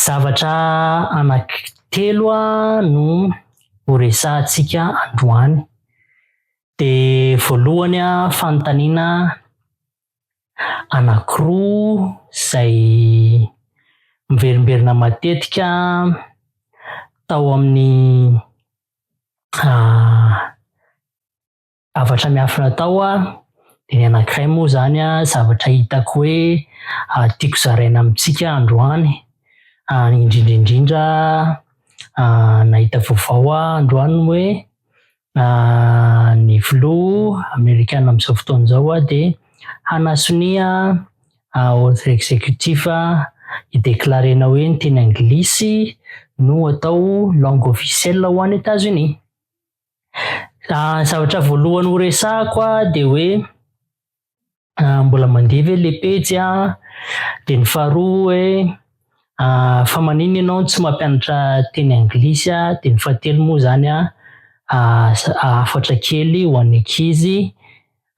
Zavatra anankitelo no horesahantsika androany. Dia voalohany fanontaniana anankiroa izay miverimberina matetika tao amin'ny zavatra miafina atao a de ny anankiray moa zany a zavatra hitako hoe tiako zaraina amintsika androany indrindra indrindra nahita vaovao a androany hoe ny filoha amerikana amin'izao fotoana izao a de hanasonia ordre exécutif hideclarena hoe ny teny anglisy no atao langue officielle ho any Etazonia. Raha ny zavatra voalohany ho resahako dia hoe ah, mbola mandeha ve le pejy ah? Dia ny faharoa hoe ah, fa manina ianao tsy mampianatra teny anglisy ah? Dia ny fahatelo moa izany ah, ah, hafatra kely ho an'ny ankizy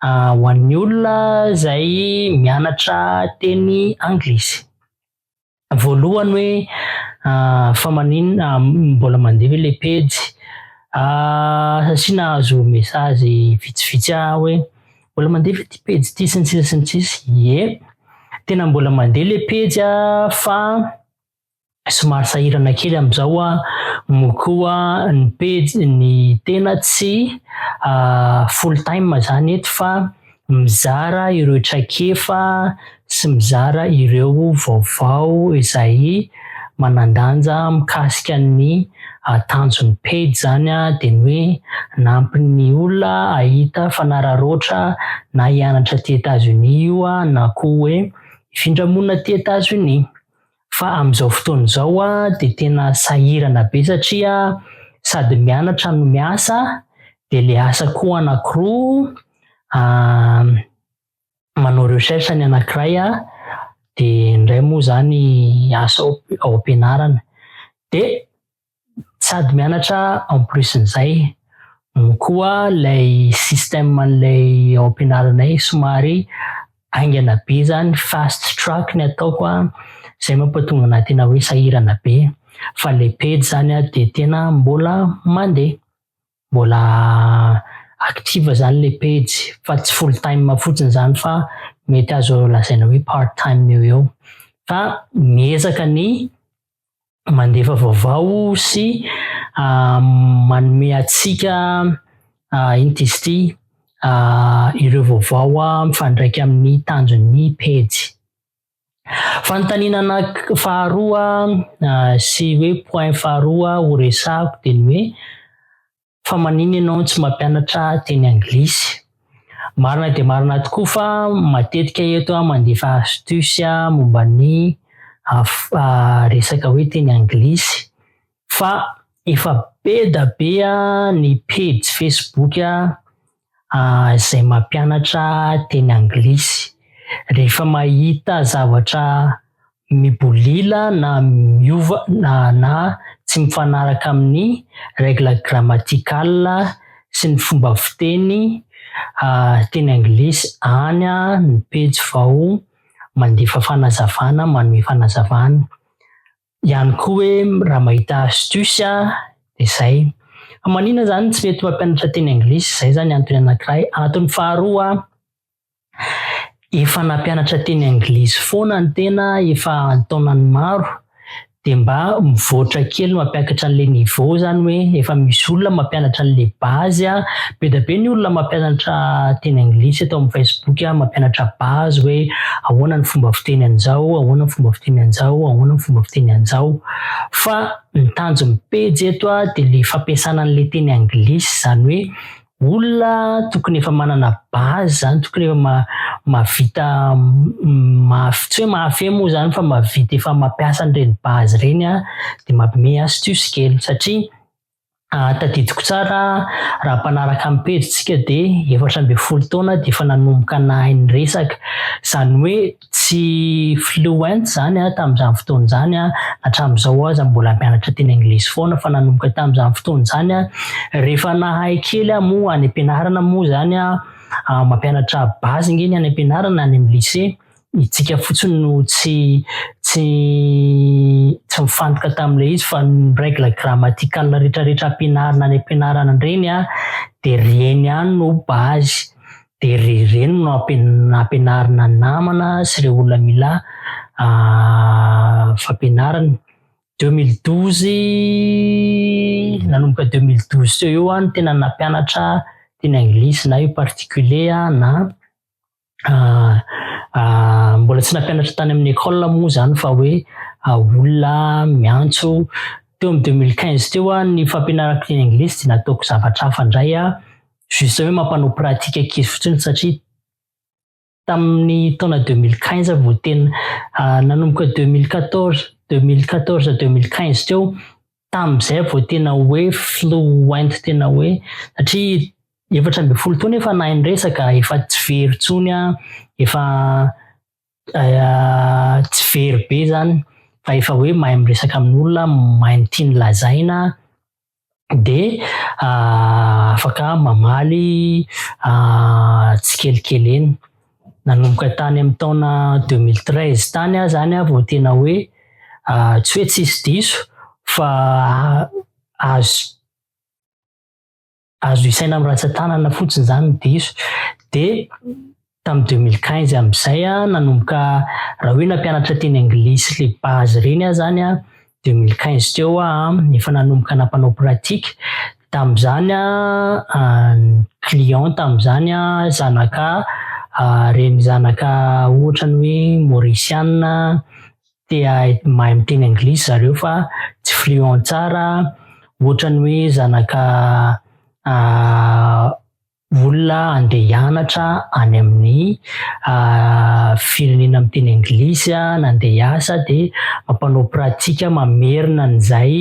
ah, ho an'ny olona izay mianatra teny anglisy. voalohany hoe ah, fa maninona ah, mbola mandeha ve le pejy ah, satria nahazo message vitsivitsy ah hoe mbola mandeha ve ty pejy ty sy ny sisa sy ny sisa ie tena mbola mandeha le pejy ah, fa somary sahirana kely amizao ah, mo koa ny pejy ny tena tsy ah, full time zany eto fa mizara ireo traikefa sy mizara ireo vaovao izay manan-danja mikasika ny tanjon'ny pejy izany dia ny hoe hanampy ny olona hahita fanararaotra na hianatra aty Etazonia io na koa hoe hifindra monina aty Etazonia. Fa amin'izao fotoana izao dia tena sahirana be satria sady mianatra no miasa dia ilay asa koa anankiroa, manao recherche ny anankiray dia indray moa izany asa ao am-pianarana. Dia sady mianatra en plus n'izay no koa ilay système an'ilay ao am-pianaranay somary haingana be izany, fast track ny ataoko an, izay mampatonga anah tena hoe sahirana be fa ilay pejy izany an dia tena mbola mandeha, mbola active izany ilay pejy fa tsy full time fotsiny izany fa mety azo lazaina hoe part time eo ho eo fa miezaka ny mandefa vaovao sy ah, manome antsika ah, ino izy ity ah, ireo vaovao ah, mifandraika amin'ny tanjon'ny pejy. Fanontaniana anak faharoa ah, sy hoe point faharoa horesahako dia ny hoe fa manina ianao tsy mampianatra teny anglisy. Marina dia marina tokoa fa matetika eto aho mandefa astuce momba ny resaka hoe teny anglisy fa efa be da be ny pejy facebook izay mampianatra teny anglisy. Rehefa mahita zavatra mibolila na miova na, na tsy mifanaraka amin'ny règle grammaticale sy ny fomba fiteny teny anglisy, any ny pejy vao mandefa fanazavana, manome fanazavana. ihany koa hoe raha mahita astuce a de zay fa manina zany tsy mety mampianatra teny anglisy zay zany antony anakiray antony faharoa efa nampianatra teny anglisy foana ny tena efa antaonany maro de mba mivoatra kely mampiakatra an'le niveau zany hoe efa misy olona mampianatra an'le base a be da be ny olona mampianatra teny anglisy eto amin'ny facebook a mampianatra base hoe Ahoana ny fomba fiteny anjao, ahoana ny fomba fiteny anjao, ahoana ny fomba fiteny anjao. Fa ny tanjon'ny pejy eto dia ilay fampiasana an'ilay teny anglisy, izany hoe olona tokony efa manana base izany, tokony efa mahavita, tsy hoe mahafehy moa izany fa mahavita efa mampiasa an'ireny base ireny dia mampime astuce kely satria Ah, tadidiko tsara raha mpanaraka ny pejy tsika dia efatra ambin'ny folo taona dia efa nanomboka nahay ny resaka. Izany hoe tsy fluent izany aho tamin'izany fotoana izany an, hatramin'izao aza mbola mianatra teny anglisy foana fa nanomboka tamin'izany fotoana izany an, rehefa nahay kely aho moa any am-pianarana moa izany an, mampianatra base ange ny any am-pianarana, any amin'ny lycée, Itsika fotsiny no tsy tsy tsy mifantoka tamin'ilay izy fa ny règle grammaticale retraretra ampianarina any ampianarana ireny a de ireny ihany no base de ireny no ampianarina ny namana sy ireo olona mila fampianarana. Deux mille douze nanomboka deux mille douze teo eo aho no tena nampianatra teny anglisy na io particulier na mbola tsy nampianatra tany amin'ny école moa zany fa hoe olona miantso teo amin'ny 2015 teo a ny fampianarako teny anglisy dia nataoko zavatra hafa indray a juste hoe mampanao pratique ankizy fotsiny satria tamin'ny taona 2015 vao tena nanomboka 2014 2014 2015 teo Tamin'izay vao tena hoe fluent tena hoe satria efatra ambin'ny folo taona efa nahay miresaka, efa tsy very intsony an, efa tsy very be zany fa efa hoe mahay miresaka amin'olona, mahay ny tiany lazaina de afaka mamaly tsikelikely eny. Nanomboka tany amin'ny taona 2013 tany aho zany aho vao tena hoe tsy hoe tsisy diso fa azo azo isaina amin'ny ratsan-tanana fotsiny zany ny diso. De tamin'ny 2015 amin'izay aho nanomboka raha hoe nampianatra teny anglisy le base reny aho zany aho deux mille quinze teo aho efa nanomboka nampanao pratique tamin'izany ny client tamin'izany zanaka reny zanaka ohatrany hoe mauriciana te hahay mahay miteny anglisy zareo fa tsy fluent tsara ohatrany hoe zanaka olona andeha hianatra any amin'ny firenena miteny anglisy na andeha hiasa dia mampanao pratika mamerina an'izay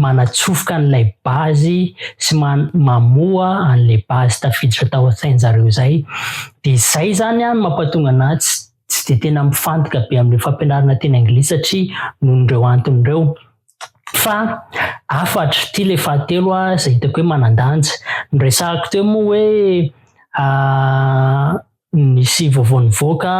manatsofoka an'ilay bazy sy mamoha an'ilay bazy tafiditra tao an-tsain-jareo izay dia izay izany an mampatonga anà tsy dia tena mifantoka be amin'ilay fampianarana teny anglisy satria noho ireo antony ireo Fa hafatra, ity ilay fahatelo izay hitako hoe manan-danja. Niresahako teo moa hoe nisy vaovao nivoaka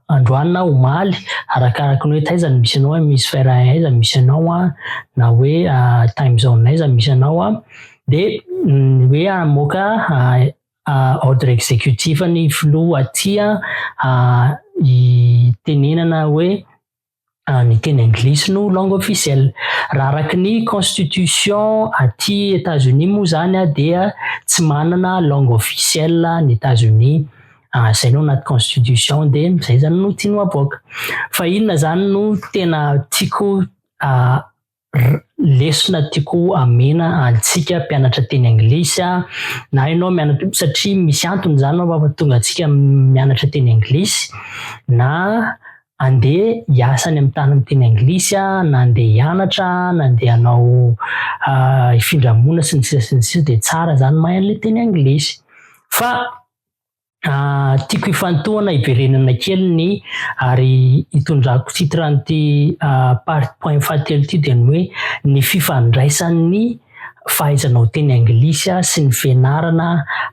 androany na omaly, arakaraka ny hoe taiza no misy anao, hemisfera aiza no misy anao an, na hoe time zone aiza no misy anao an, dia hoe hamoaka ordre executif ny filoha aty an, hitenenana hoe ny teny anglisy no langue officielle. Raha araka ny constitution aty Etazonia moa zany dia tsy manana langue officielle ny Etazonia, izay no anaty constitution dia izay zany no tiany ho avoaka. Fa inona zany no tena tiako R, Lesona tiako amena antsika mpianatra teny anglisy aho. Na ianao mianatra, satria misy antony izany no mampatonga antsika mianatra teny anglisy. Na andeha hiasa any amin'ny tany miteny anglisy aho, na andeha hianatra aho, na andeha hanao hifindra-monina sy ny sisa sy ny sisa dia tsara izany mahay an'ilay teny anglisy. Fa Ah, tiako hifantohana hiverenana kely ny ary hitondrako titre an'ity ah, part point fahatelo ity dia ny hoe ny fifandraisan'ny fahaizanao teny anglisy sy ny fianarana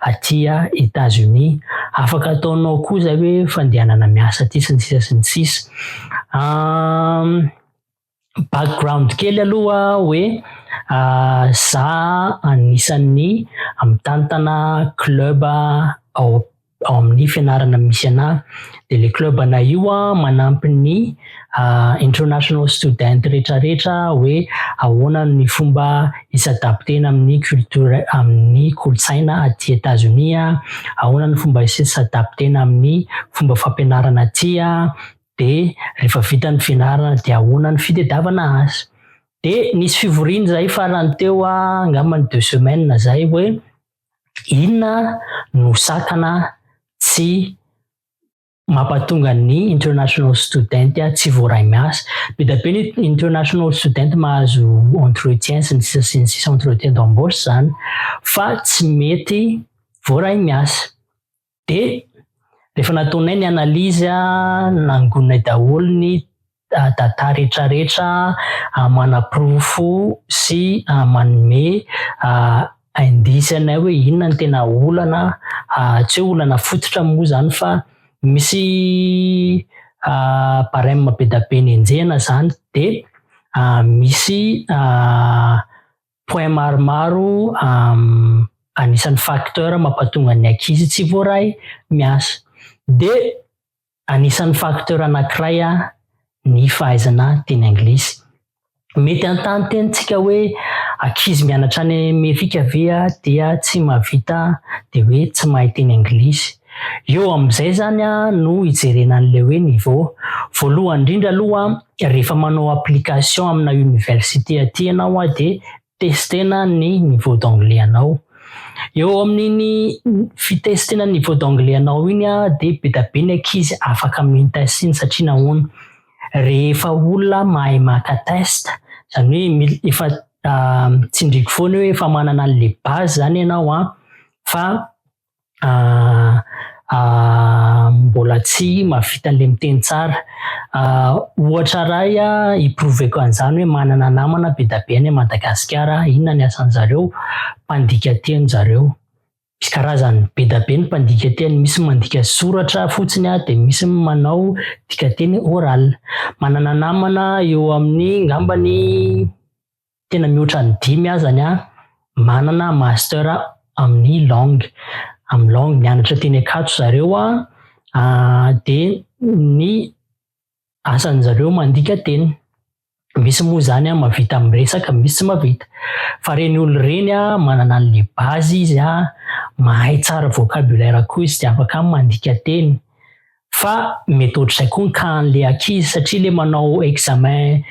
aty États-Unis. Afaka ataonao koa izay hoe fandehanana miasa aty sy ny sisa sy ny sisa. Ah, background kely aloha hoe uh, za anisan'ny mitantana club ao ao amin'ny fianarana misy ana de le club ana io a manampy ny uh, international student rehetrarehetra hoe ahoana ny fomba isadaptena amin'ny culture amin'ny kolotsaina aty Etazonia ahoana ny fomba isadaptena amin'ny fomba fampianarana aty a dia rehefa vita ny fianarana dia ahoana ny fitedavana azy. Dia nisy fivoriana izay farany teo angamba ny deux semaines izay hoe inona no sakana tsy mampatonga ny international student tsy voaray miasa. Be dia be ny international student mahazo entretien sy ny sisa sy ny sisa entretien d'embauche izany fa tsy mety voaray miasa. Dia rehefa nataonay ny analyse a, nangoninay daholo ny data retraretra manaporofo sy manome indice anay hoe inona no tena olana, tsy hoe olana fototra moa izany fa misy barème be dia be nenjehina izany dia misy point maromaro anisan'ny facteur mampatonga ny ankizy tsy voaray miasa. Dia anisan'ny facteur anankiray ny fahaizana teny anglisy. Mety hanontany teny tsika hoe ankizy mianatra any Amerika ve dia tsy mahavita dia hoe tsy mahay teny anglisy? Eo amin'izay izany no hijerena an'ilay hoe niveau. Voalohany indrindra aloha rehefa manao application amina université aty ianao dia testena ny niveau d'anglais anao. Eo amin'iny fitestena ny niveau d'anglais anao iny dia be dia be ny ankizy afaka mi-test iny satria nahoana? rehefa olona mahay maka test, izany hoe efa tsindriako foana hoe efa manana an'ilay base izany ianao fa mbola tsy mahavita an'ilay miteny tsara. Ohatra iray hi-prouver-ko an'izany hoe manana namana be dia be any Madagasikara aho. Inona ny asan'izareo? Mpandika teny zareo. Misy karazany be dia be ny mpandika teny, misy ny mandika soratra fotsiny dia misy ny manao dikanteny oral. Manana namana eo amin'ny angambany tena mihoatra ny dimy azany aho manana master amin'ny langue amin'ny langue mianatra teny akato zareo a ah, de ny asan'ny zareo mandika teny misy moa zany a mavita amin'ny resaka misy tsy mavita fa reny olo reny a manana an'le bazy izy a mahay tsara vocabulaire koa izy de afaka mandika teny Fa mety ohatr'izay koa ny cas an'ilay ankizy satria ilay manao examen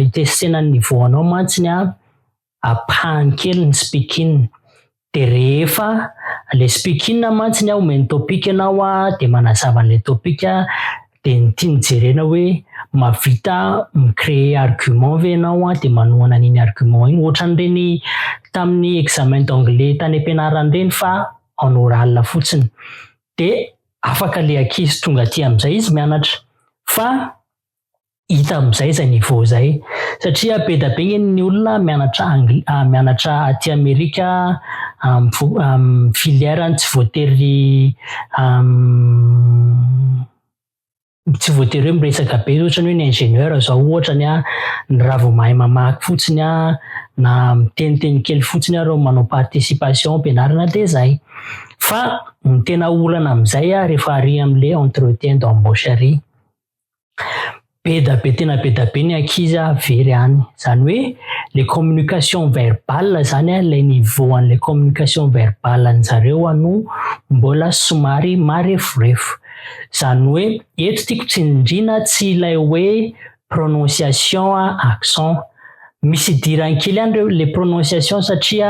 hitestena ny niveau anao mantsy ny an, apahany kely ny speaking. Dia rehefa ilay speaking an mantsy ny an omeny topic ianao an dia manazava an'ilay topic an dia ny tiany jerena hoe mahavita mi-creer argument ve ianao an dia manohana an'iny argument iny. Ohatran'ireny tamin'ny examen d'anglais tany am-pianarana ireny fa en oral fotsiny. Dia. afaka le ankizy tonga aty amizay izy mianatra fa hita amizay zay niveau zay satria beda be ngeny ny olona mianatra angl ah, mianatra aty amerika am am filière ny tsy voatery am tsy voatery hoe miresaka be ohatra ny hoe ny ingénieur zao ohatra ny a ny raha vao mahay mamaky fotsiny a na miteniteny kely fotsiny areo manao participation ampianarana de zay fa ny tena olana amizay a rehefa ary amle entretien d'embauche ary be da be tena be da be ny ankizy a very any zany hoe le communication verbale zany a le niveau anle communication verbale anjareo a no mbola somary mareforefo Zany hoe eto tiako tsindrina tsy ilay hoe prononciation a accent. Misy idirany kely any reo le prononciation satria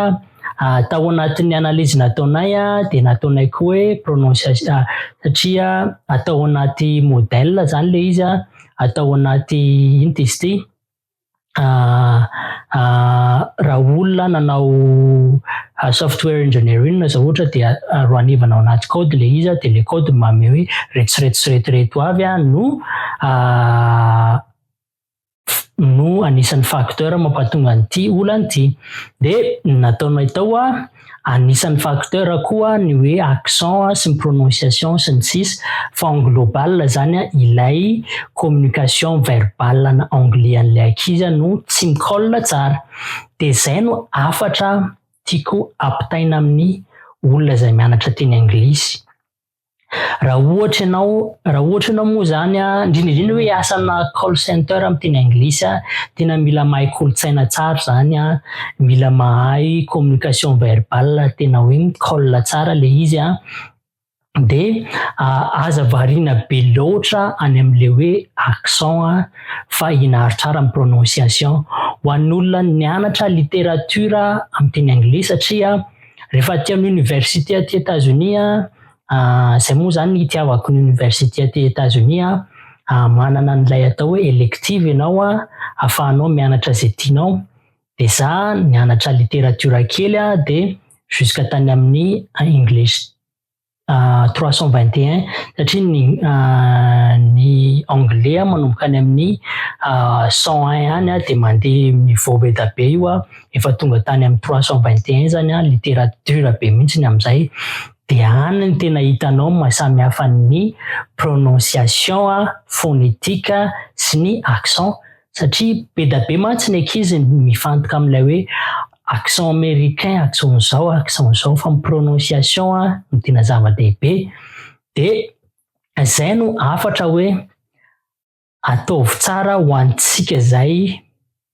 tao anatin'ny analyse nataonay a de nataonay koa hoe prononciation a satria atao anaty modèle zany le izy a, atao anaty ino ty izy ty? raha olona nanao ah, software engineering na izao ohatra dia ah, roanivana ao anaty code le izy dia le code mame hoe retsiretsiretireto avy a no ah, no anisan'ny facteur mampatonga an'ity olana ity dia nataonay tao a Anisan'ny facteur koa ny hoe accent sy ny prononciation sy ny sisa fa en global zany an ilay communication verbal an anglais an'ilay ankizy an no tsy mi-colle tsara dia zay no hafatra tiako apitaina amin'ny olona izay mianatra teny anglisy. raha ohatra ianao raha ohatra ianao moa zany a indrindra indrindra hoe asana call center amin'ny teny anglisy a tena mila mahay kolontsaina tsara zany a mila mahay communication verbale tena hoe call tsara le izy a de aza variana be loatra any amin'le hoe accent a fa inaritrara amin'ny prononciation ho an'olona nianatra littérature amin'ny teny anglisy satria Rehefa aty amin'ny université aty Etazonia, izay moa izany ny itiavako ny université aty Etazonia, manana an'ilay atao hoe elective ianao ahafahanao mianatra izay tianao. Dia za nianatra literatiora kely dia jusqu'à tany amin'ny English. trois cent vingt et un satria ny ny anglais manomboka any amin'ny cent un any dia mandeha niveau be dia be io efa tonga tany amin'ny trois cent vingt et un zany an littérature be mihitsy ny amin'izay dia any ny tena hitanao ny mahasamihafa ny prononciation, phonétique sy ny accent. satria be da be mantsy ny ankizy mifantoka amin'ilay hoe accent américain accent izao accent izao fa ny prononciation no tena zava-dehibe de izay no afatra hoe ataovy tsara ho antsika izay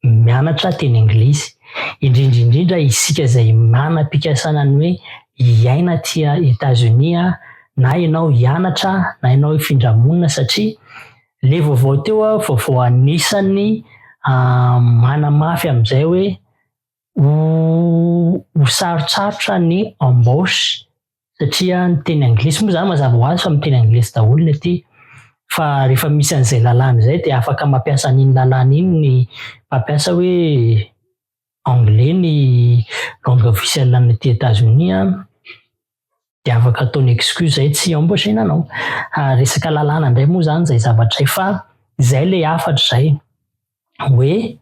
mianatra teny anglisy indrindra indrindra isika izay manam-pikasana ny hoe hiaina aty États-Unis na ianao hianatra na ianao hifindra monina satria Le vaovao teo a vaovao anisany manamafy amizay hoe ho ho sarotsarotra ny embauche satria ny teny anglisy moa zany mazava ho azy fa miteny anglisy daholo ny aty fa refa misy anizay lalàna zay de afaka mampiasa an'iny lalàna iny ny mpampiasa hoe anglais ny langue officielle any aty Etazonia dia afaka ataony excuse zay tsy embaucher nanao. Ah, resaka lalàna indray moa zany zay zavatra zay fa zay le hafatra zay hoe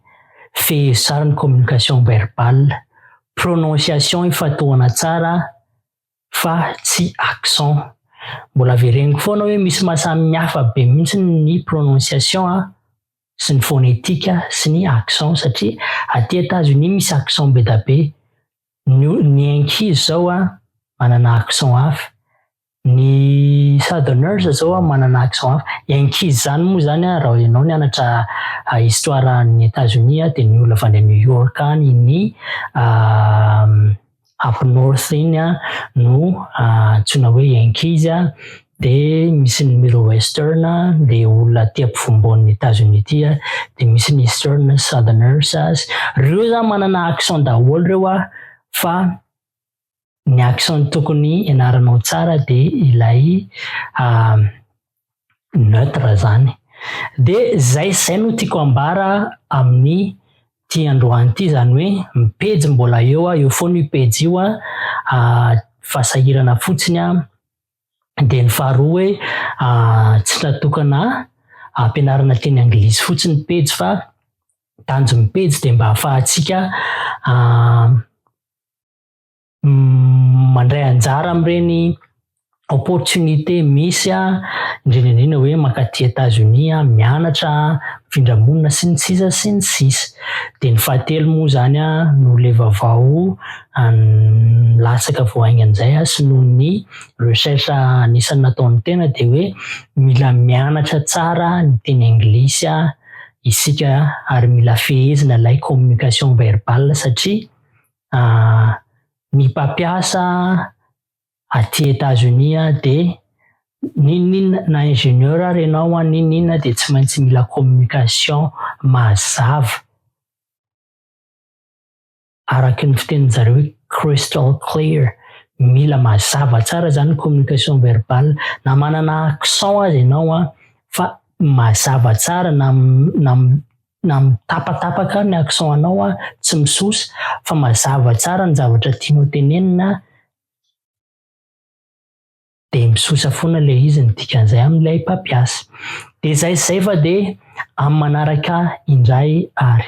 fehezsary ny communication verbale, prononciation ifatohana tsara fa tsy accent. Mbola avereniko foana hoe misy maha samy hafa be mihitsy ny prononciation an, sy ny fonetika sy ny accent satria aty Etats-Unis misy accent bedabe, ny ny ankizy zao an manana accent hafa, ny southerners zao an manana accent hafa, ny ankizy zany moa zany an raha ianao nianatra histoire any Etats-Unis an dia ny olona avy any New York any ny Afro North iny no antsoina hoe Yankees, dia misy ny Middle Western, dia olona aty ampovoambonin'ny Etazonia aty, dia misy ny Eastern, Southerners, ireo zany manana accent daholo ireo fa ny accent tokony hianaranao tsara dia ilay neutre zany. De zay zay no tiako ambara amin'ny ty androany ty zany hoe ny pejy mbola eo a, eo foana io pejy io a, fa sahirana fotsiny a, de ny faharoa hoe tsy natokana hampianarana teny anglisy fotsiny ny pejy fa tanjon'ny pejy de mba afahantsika mandray anjara amin'ireny opportunité misy a indrindra indrindra hoe mankaty États-Unis a mianatra mifindra monina sy ny sisa sy ny sisa dia ny fahatelo moa izany a no le vavao latsaka vao haingana izay a sy noho ny recherche anisan'ny nataon'ny tena dia hoe mila mianatra tsara ny teny anglisy a isika ary mila fehezina ilay communication verbale satria ny mpampiasa aty Etazonia dia n'inon'inona na ingénieur ary ianao an, n'inon'inona dia tsy maintsy mila communication mazava araka ny fitenin-dry zareo hoe crystal clear, mila mazava tsara izany ny communication verbale na manana accent aza ianao an fa mazava tsara na na mitapatapaka ny accent anao a, tsy misosa fa mazava tsara ny zavatra tianao tenenina de misosa foana le izy ny dikan'izay amin'ilay mpampiasa. De zay sy zay fa de amin'ny manaraka indray ary.